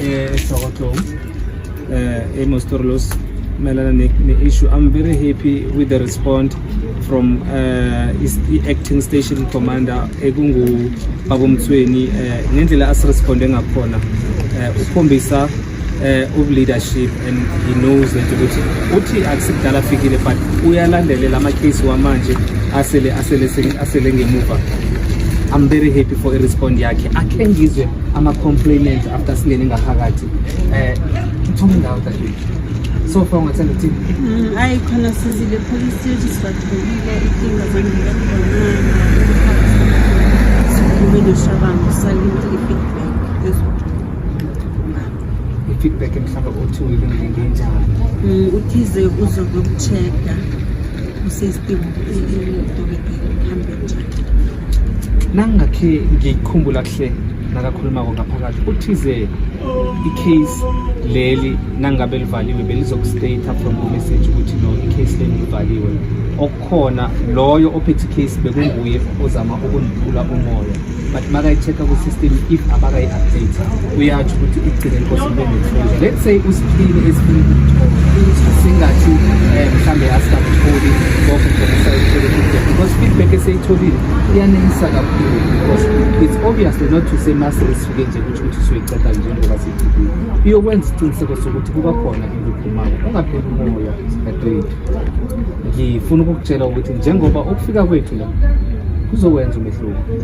esokotlong eh, um emostorlos mayelana ne-issue i'm very happy with the response from uh, i-acting station commander ekungubabomthweni uh, eh, ngendlela asiresponde ngakhona uh, ukhombisa uh, uleadership and he knows that ukuthi uthi akusikudala afikile but uyalandelela amakhesi wamanje asele asele asele ngemuva i'm very happy for i-respond yakhe akhe ngizwe ama-complainant after singene ngaphakathi um uthume indawo dadewethu so far ungathanda ukuthini mm, ayi khona sizile police station sibathulile ikinga zangile ubenoshabango salinde i-feedback i-feedback mhlawumbe othi uyilungele njani mm, uthize uzokucheck-a usesitimu idokotela ihambe njani nangingakhe ngikhumbula kuhle nakakhulumako ngaphakathi uthize i-case leli nangabe livaliwe belizokustate from the message ukuthi no i-case leli livaliwe okukhona loyo ophethe i-case bekunguye ozama ukundiphula umoya but makayi-check-a ku-system if abakayi-update uyatsho ukuthi igcine inkosi ibelefunda let's say usiphile esifuna ukuthola singathi eh, mhlawumbe asikakutholi konke njengesayithole kude because feedback eseyitholile iyanelisa kakhulu because it's obviously not to say mase esifike nje ukuthi ukuthi siyoyiqeda njengoba siyifikile iyokwenza isiqiniseko sokuthi kuba khona into ephumayo ungapheli umoya dadewethu ngifuna ukukutshela ukuthi njengoba ukufika kwethu la kuzokwenza umehluko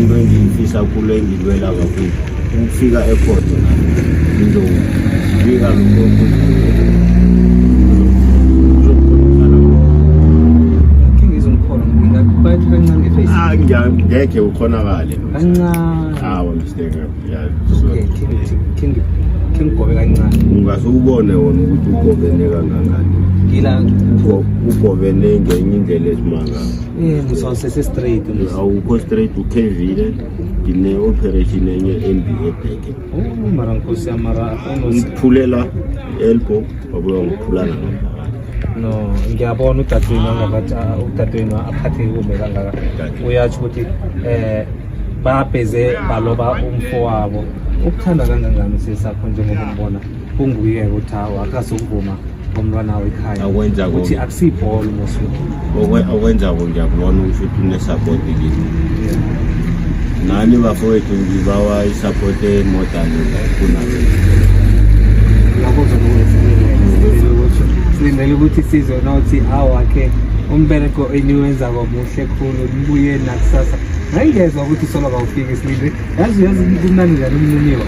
into engiyifisa kulo engilwela kakhulu ukufika ekhona ngizobika lokho ngeke ukhonakale kancane mistake ngigobe kancane ungase ubone wona ukuthi ugobene kangangani ngila ugobene ngenye indlela esimangala Eh, ngisawusese straight awukho straight ukhevile ngine-operation enye embi ebheke oh, mara nkosi yam mara ngiphulela elbow wabuya ngiphulana no ngiyabona udadewenu angakathi ah, udadewenu aphatheke kumbe kangaka uyatsho ukuthi um babheze baloba umfo wabo ukuthanda kangangani sesakho njengoba umbona kunguye ukuthi hawu akazokuvuma ngomntwana wawo ekhaya Akwenza ukuthi konke. akusibhola umosuku Okwe- okwenzako ngiyakubona ukuthi uthi unesapoti kini nani bafowethu ngibawa isapoti emodani kunabo lokho kuzobe kuyisilindele silindele ukuthi sizwe nothi awakhe umbereko eniwenzako muhle khulu nibuye nakusasa ngayingezwa ukuthi solo kawufiki silinde yazi yazi kumnandi njani umniniwa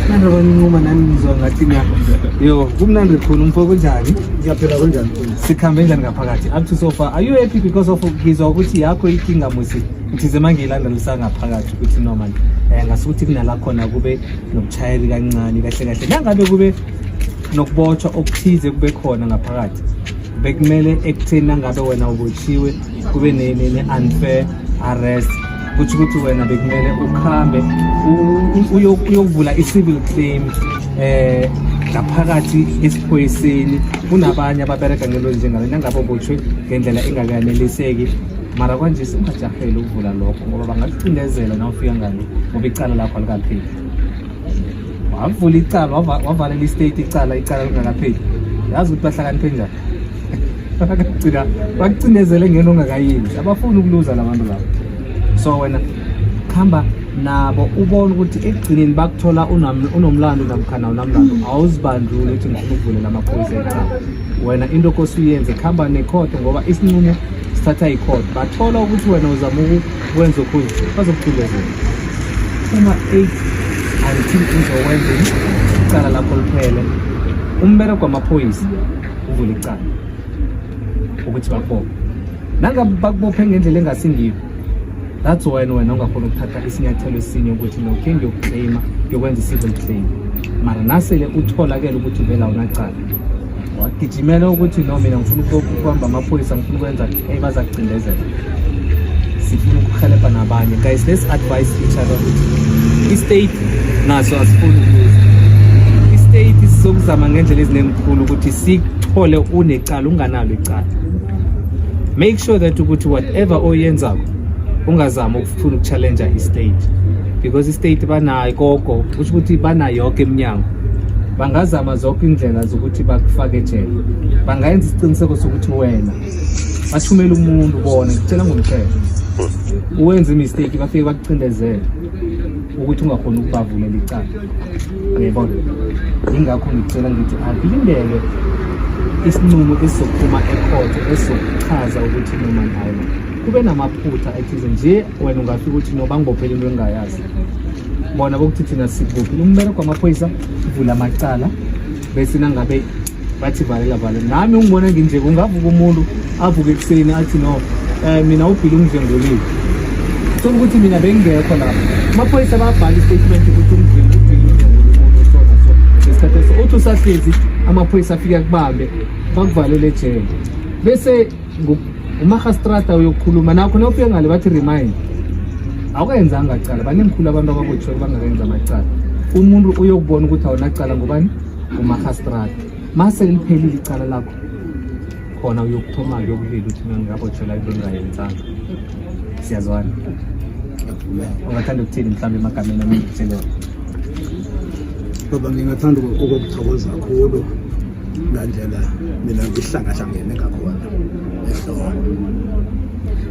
manje abancuma nani ngizwa ngathi na yo kumnandi khona umfo kunjani ngiyaphela kunjani sikhambe njani ngaphakathi up to so far are you happy because of ngizwa ukuthi yakho ikinga musi ngithize mangiyilandelisa ngaphakathi ukuthi no man eh ngasukuthi kunala khona kube nokuchayeli kancane kahle kahle nangabe kube nokubotshwa okuthize kube khona ngaphakathi bekumele ekutheni nangabe wena ubotshiwe kube ne-unfair arrest kutho ukuthi wena bekumele ukuhambe uyokuvula i-civil claim eh ngaphakathi esiphoyiseni kunabanye ababereka ngelo njengalo nangabe botshwe ngendlela engakaneliseki mara kwanje singajahele ukuvula lokho ngoba bangakucindezela na ufika ngani ngoba icala lakho alikapheli wavula icala wavalela istate icala icala lingakapheli yazi ukuthi bahlakaniphe njani bakugcina bakucindezele ngeno ongakayenzi abafuni ukuluza labantu labo so wena khamba nabo ubone ukuthi ekugcineni bakuthola unomlando namkhana unamlando awuzibandluli ukuthi ngifuna ukuvulela amaphoyisa ekhaya wena into okosi uyenze kuhamba nekhotho ngoba isinqumo sithatha ikhotho bathola ukuthi wena uzama ukwenza okhunye bazokucindezela uma eight angithi uzokwenza icala lakho liphele umbereko wamaphoyisa uvule icala ukuthi bakubophe nangabe bakubophe ngendlela engasingiyo that's why wena ungakhona ukuthatha isinyathelo esinye ukuthi no khe ngiyokuclaima ngiyokwenza i-civil claim mara nasele utholakele ukuthi vela unacala wagijimela ukuthi no mina ngifuna ukuhamba amaphoyisa ngifuna ukwenza hey baza kucindezela sifuna ukuhelebha nabanye guys let's advise each other ukuthi i-state naso asifuni ukuza i-state sizokuzama ngendlela ezinemkhulu ukuthi sikuthole unecala unganalo icala make sure that ukuthi whatever oyenzako ungazami ukufuna ukuchallenja i-state because i-state banayo koko kusho ukuthi banayo yonke iminyango bangazama zonke indlela zokuthi bakufake ejele bangayenza isiqiniseko sokuthi wena bathumele umuntu bona ngicela ngomthetho uwenza imistake bafike bakucindezele ukuthi ungakhona ukubavulela icala uyayibona yingakho ngicela ngithi akulindele isinqumo esizophuma ekhotho esizochaza ukuthi noma nayo kube namaphutha ethize nje wena ungafika ukuthi noba ngibophele into engingayazi bona bokuthi thina sikuphi umbereko wamaphoyisa uvula amacala bese nangabe bathi valela valela nami ungibona nginje kungavuka umuntu avuke ekuseni athi no um mina ubhile umdlengoleli thola ukuthi mina bengingekho lapho amaphoyisa babhala istatement ukuthi umdlengoleli uthi usahlezi amaphoyisa afike akubambe bakuvalele ejele bese umahastrata uyokhuluma nakho nawufike ngale bathi remind awukayenzanga cala banengikhulu abantu ababothiwe bangakenza amacala umuntu uyokubona ukuthi awunacala ngubani umahastrada mase liphelile icala lakho khona uyokuthoma yokulila uthi mina ngingabotshela into engayenzanga siyazwana ungathanda ukuthini mhlawumbe emagameni amengitsheleyo baba ngingathanda ukukuthokoza kakhulu ngandlela mina ngihlangahlangene ngakhona ehloko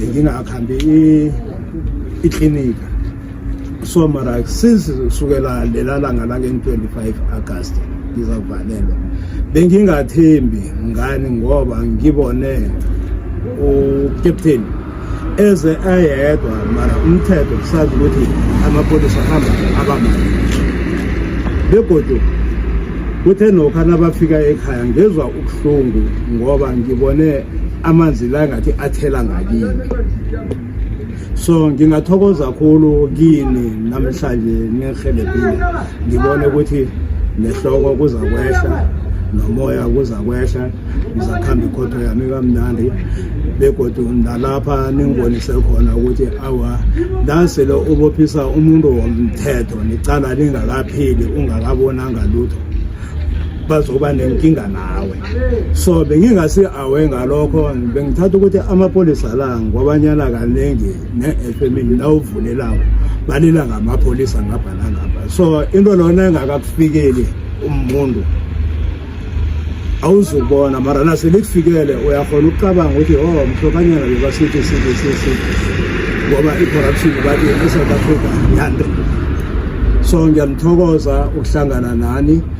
ngingakhambi iklinika so mara since sukela lela langa lange-25 agasti ngizakuvalelwa bengingathembi ngani ngoba ngibone ucaptain eze ayedwa mara umthetho kusazi ukuthi amapholisa ahamba abamali begodu kuthe nokha nabafika ekhaya ngezwa ubuhlungu ngoba ngibone amanzi la ngathi athela ngakini so ngingathokoza kakhulu kini namhlanje nirhelebhile ngibone ukuthi nehloko kuza kwehla nomoya kuza kwehla ngizakuhamba ikhotho yami kamnandi begodu nalapha ningibonise khona ukuthi awa nasele ubophisa umuntu womthetho nicala lingakapheli ungakabonanga lutho bazoba nenkinga nawe so bengingasi awe ngalokho bengithatha ukuthi amapholisa la ngwabanyana kaningi ne-efemini la uvulelako balila ngamapholisa ngapha nangapha so into lona engakakufikeli umuntu awuzubona mara nase likufikele uyakhona ukucabanga ukuthi o oh, mhlokanyana bebasithi sithi sithi ngoba i-corruption bathi e-south africa yande so ngiyalithokoza ukuhlangana nani